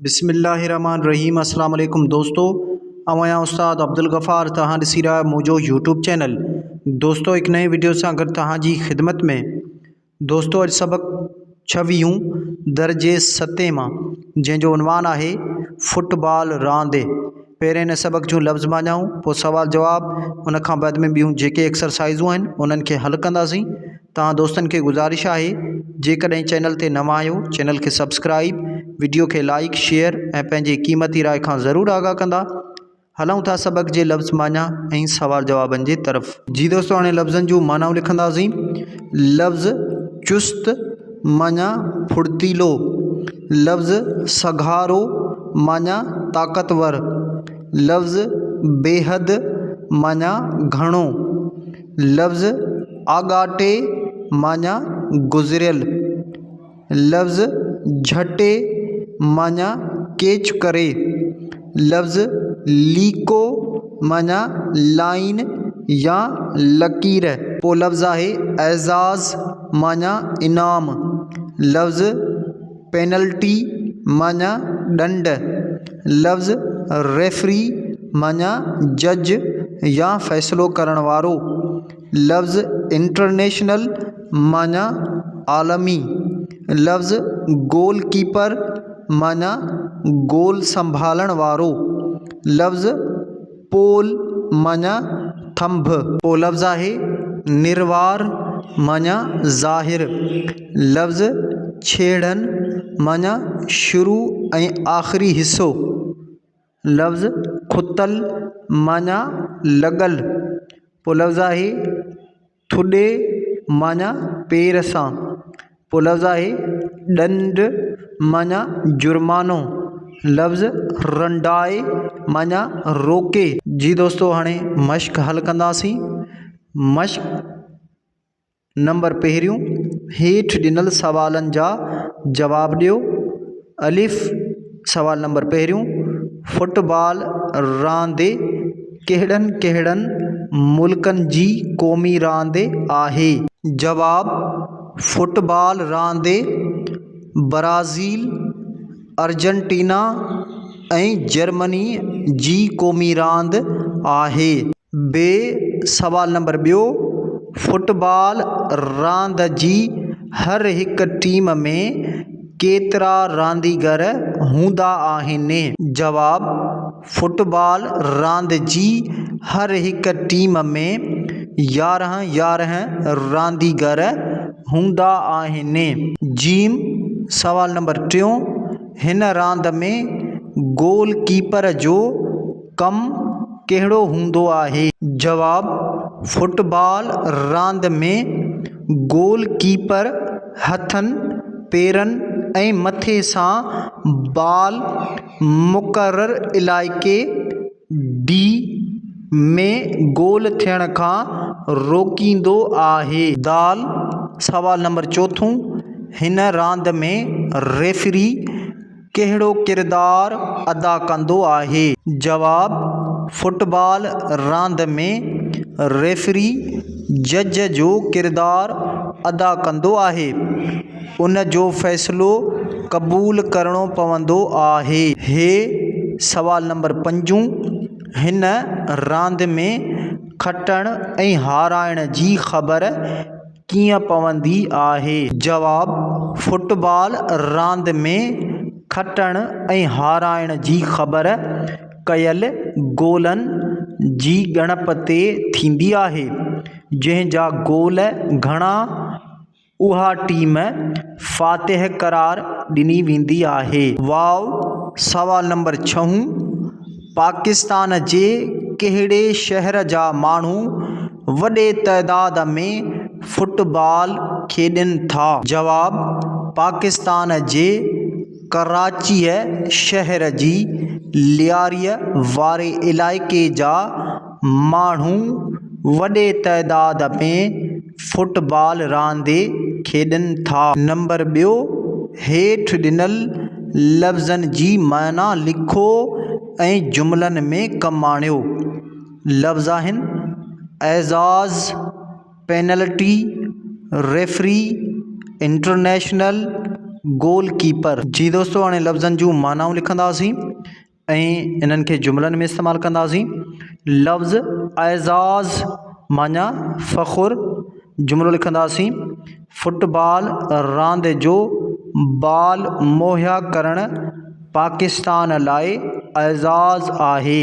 بسم الله الرحمٰن الرحيم اسلام عليڪم دوستو آئون آهيان استاد عبدالغفار توهان ڏسي رهيا آهيو منهنجو يوٽيوب چينل دوستو هڪ نئين وڊيو سان گڏ توهان جي خدمت ۾ دوستو اڄ سبق ڇويهون درجي ستين مان جنهن جو عنوان آهي فٽبال راند پهرين هن سبق جون لفظ معنائون، پوء سوال جواب، ان کان بعد ۾ ٻيون جيڪي ايڪسرسائيزون آهن انهن کي حل ڪنداسين. توهان دوستن کي گذارش آهي جيڪڏهن چينل تي نوان آهيو چينل کي سبسڪرائيب، وڊيو کي لائيڪ، شيئر ۽ پنهنجي قيمتي راء کان ضرور آگاهه ڪندا. هلون ٿا سبق جي لفظ معنيٰ ۽ سوال جوابن جي طرف. جي دوستو هاڻي لفظن جون معنائون لکنداسين. لفظ چست. معنيٰ ڦڙتيلو، لفظ سگهارو معنيٰ طاقتور، لفظ بيحد معنيٰ گهڻو، لفظ آڳاٽي معنيٰ گذريل، لفظ جهٽي معنيٰ ڪيچ ڪري لفظ ليڪو معنيٰ لائين يا لڪير. پوء لفظ آهي اعزاز معنيٰ انعام. لفظ پينلٽي معنيٰ ڏنڊ. لفظ ريفري معنيٰ جج يا فيصلو ڪرڻ وارو. لفظ انٽرنيشنل معنيٰ عالمي، لفظ گول ڪيپر معنيٰ گول سنڀالڻ وارو، لفظ پول معنيٰ ٿنڀ، ٻيو لفظ آهي نروار معنيٰ ظاهر، لفظ ڇيڙن معنيٰ شروع ۽ آخري حصو، لفظ کتل معنيٰ لڳل، پوء لفظ آهي ٿڏي معنيٰ پير سان، پوء لفظ آهي ڏنڊ معنيٰ جرمانو، لفظ رنڊائي معنيٰ روڪي. جي دوستو هاڻي مشق حل ڪنداسين. مشق نمبر پهريون، هيٺ ڏنل سوالن جا جواب ڏيو. الف، سوال نمبر پهريون، فٽ بال راند ڪهڙن ڪهڙن ملڪن جي قومي راند آهي؟ جواب، فٽ بال راند برازيل، ارجنٽينا ۽ جرمني جي قومي راند آهي. ب سوال نمبر ٻيو، فٽبال راند جي هر هڪ ٽيم ۾ ڪيترا رانديگر هوندا آهن؟ جواب، فٽبال راند جي هر هڪ ٽيم ۾ يارهن يارهن رانديگر هوندا آهن. ج سوال نمبر ٽيون، هن راند ۾ گول ڪيپر جو ڪم ڪهڙو هوندو آهي؟ جواب، فٽ بال راند ۾ گول ڪيپر هٿن، پيرن ۽ مٿي سان بال مقرر علائقي، ڊي، ۾ گول ٿيڻ کان روڪيندو آهي. د، سوال نمبر چوٿون، هن راند ۾ ريفري، ڪهڙو ڪردار ادا ڪندو آهي؟ جواب، فٽبال راند ۾ ريفري جج جو ڪردار ادا ڪندو آهي. ان جو فيصلو قبول ڪرڻو پوندو آهي. هي سوال نمبر پنجون هن راند ۾ کٽڻ ۽ هارائڻ جي خبر ڪيئن پوندي آهي؟ جواب، فٽ بال راند ۾ کٽڻ ۽ هارائڻ جي خبر ڪيل گولن جي ڳڻپ تي ٿيندي آهي، جنهن جا گول گهڻا اها ٽيم فاتح قرار ڏني ويندي آهي. واء، سوال نمبر ڇهون. پاڪستان جي ڪهڙي شهر جا ماڻهو وڏي تعداد ۾ فٽبال کيڏين ٿا؟ جواب، پاڪستان جي ڪراچيء شهر جي لياريء واري علائقي جا ماڻهو وڏي تعداد ۾ فٽ بال راندي کيڏن ٿا. نمبر ٻيو، هيٺ ڏنل لفظن جي معنيٰ لکو ۽ جملن ۾ ڪم آڻيو. لفظ آهن، اعزاز، penalty, referee, international, goalkeeper. جي دوستو هاڻي لفظن جون معنائون لکنداسين. ۽ انهن کي جملن ۾ استعمال ڪنداسين. لفظ اعزاز معنيٰ فخر جملو لکنداسين. فٽ بال راند جو بال مهيا ڪرڻ پاڪستان لاء اعزاز آهي.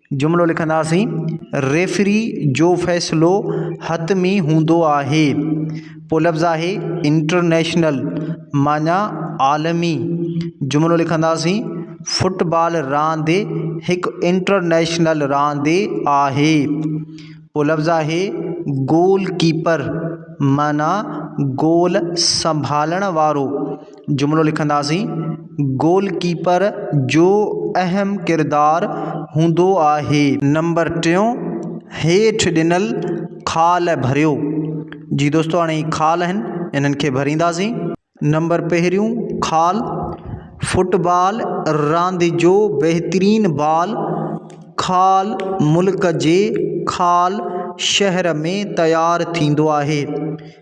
جملو لکنداسين، ريفري جو فيصلو حتمي هوندو آهي. پوء لفظ آهي انٽرنيشنل معني عالمي. جملو لکنداسين، فٽبال راند هڪ انٽرنيشنل راند آهي. پوء لفظ آهي گول ڪيپر معني گول سنڀالڻ وارو. جملو لکنداسين گول ڪيپر جو اهم ڪردار هوندو آهي نمبر ٽيون هيٺ ڏنل خال ڀريو جي دوستو هاڻي هي خال آهن انهن کي ڀرينداسين نمبر پهريون خال فٽ بال راند جو بهترين بال خال ملڪ جي خال شهر ۾ تيار ٿيندو آهي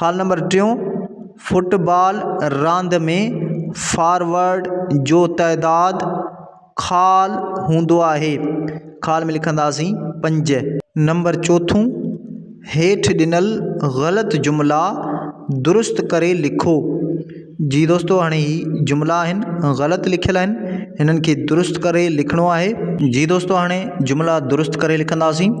خال نمبر ٽيون، فٽ بال راند ۾ فارورڊ جو تعداد خال هوندو آهي، خال ۾ لکنداسين پنج. نمبر چوٿون، هيٺ ڏنل غلط جملا درست ڪري لکو. جي دوستو هاڻي هي جملا آهن غلط لکيل آهن هنن کي درست ڪري لکڻو آهي. جي دوستو هاڻي جملا درست ڪري لکنداسين.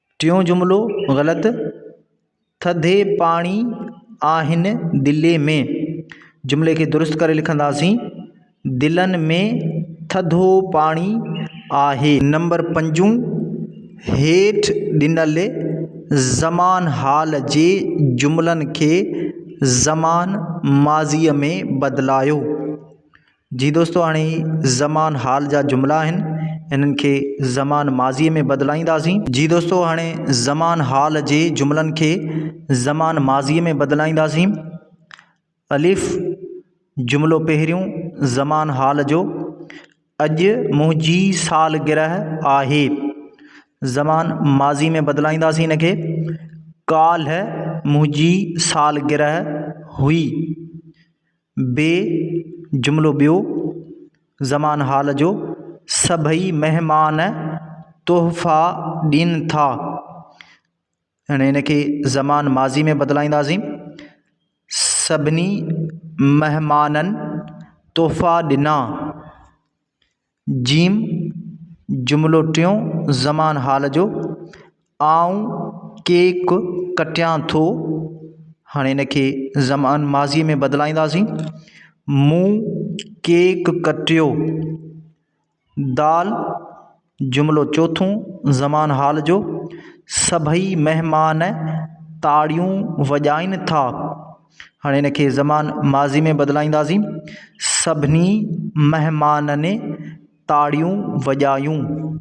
ٽيون جملو غلط، ٿڌي پاڻي آهن دلي ۾، جملي کي درست ڪري لکنداسين، دلن ۾ ٿڌو پاڻي آهي. نمبر پنجون، هيٺ ڏنل زمان حال جي جملن کي زمان ماضيء ۾ بدلايو. جي دوستو هاڻي زمان حال جا جملا آهن انهن کي زمان ماضي ۾ بدلائينداسين. جي دوستو هاڻي زمان حال جي جملن کي زمان ماضي ۾ بدلائينداسين. الف، جملو پهريون زمان حال جو، اڄ منهنجي سالگرهه آهي. زمان ماضي ۾ بدلائينداسين ان کي ڪالهه منهنجي سالگرهه هئي. بي جملو ٻيو زمان حال جو سڀئي مهمان تحفا ڏين ٿا يعني ان کي زمان ماضي ۾ بدلائينداسين سڀني مهمانن تحفا ڏنا جيم، جملو ٽيون، زمان حال جو، آئون ڪيڪ ڪٽيان ٿو، هاڻي هن کي زمان ماضيء ۾ بدلائينداسين، مون ڪيڪ ڪٽيو. دال، جملو چوٿون، زمان حال جو، سڀئي مهمان تاڙيون وڄائين ٿا. هاڻي ان کي زمان ماضي ۾ بدلائينداسين. سڀني مهمانن تاڙيون وڄايون.